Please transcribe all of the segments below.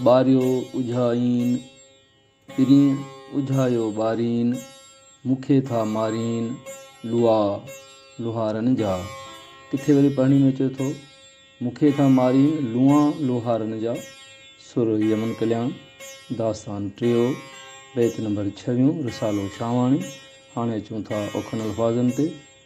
ٻاريو اجهائين پرين اجهايو ٻارين، مون کي ٿا مارين لوئا لوهارن جا. ڪٿي وري پڙهڻي ۾ اچي ٿو، مون کي ٿا مارين لوئا لوهارن جا، سر يمن ڪلياڻ، داستان ٽيو، بيت نمبر ڇويون، رسالو شاهواڻي، هاڻي اچون ٿا اوکن الفاظن تي.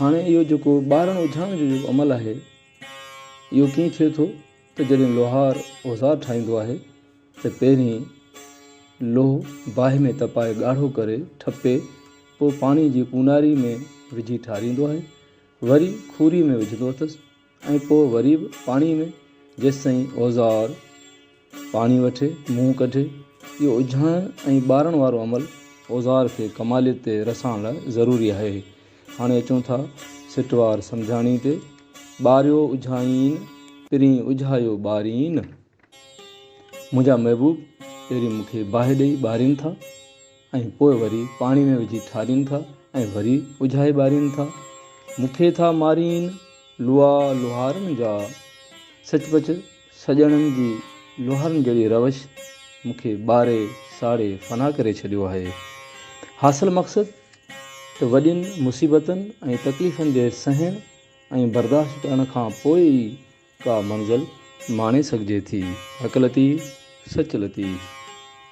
هاڻي اهو جيڪو ٻارڻ اجهائڻ جو جيڪو عمل آهي اهو ڪيئن ٿئي ٿو ته جڏهن لوهار اوزار ٺاهيندو آهي ته پهرين لوهه باهه ۾ تپائي ڳاڙهو ڪري ٺپي پوء پاڻي جي پوناري ۾ وجهي ٺاريندو آهي وري کوري ۾ وجهندو اٿس ۽ پوء وري به پاڻي ۾، جيستائين اوزار پاڻي وٺي، منهن ڪڍي. اهو اجهائڻ ۽ ٻارڻ وارو عمل اوزار کي ڪماليت تي رسائڻ لاء ضروري آهي. هاڻي اچون ٿا سٽ وار سمجهاڻي تي، ٻاريو اجهائين، پرين اجهايو ٻارين. منهنجا محبوب پهرين مون کي باهه ڏئي ٻارين ٿا ۽ پوء وري پاڻي ۾ وجهي ٺارين ٿا ۽ وري اجهائي ٻارين ٿا. مون کي ٿا مارين لوا لوهارن جا. سچ پچ سڄڻن جي لوهارن جهڙي روش مون کي ٻاري ساڙي فنا ڪري ڇڏيو آهي. حاصل مقصد ته وڏين مصيبتن ۽ تڪليفن جي سهڻ ۽ برداشت ڪرڻ کان پوء ئي ڪا منزل ماڻي سگهجي ٿي. حق لطيف سچ لطيف.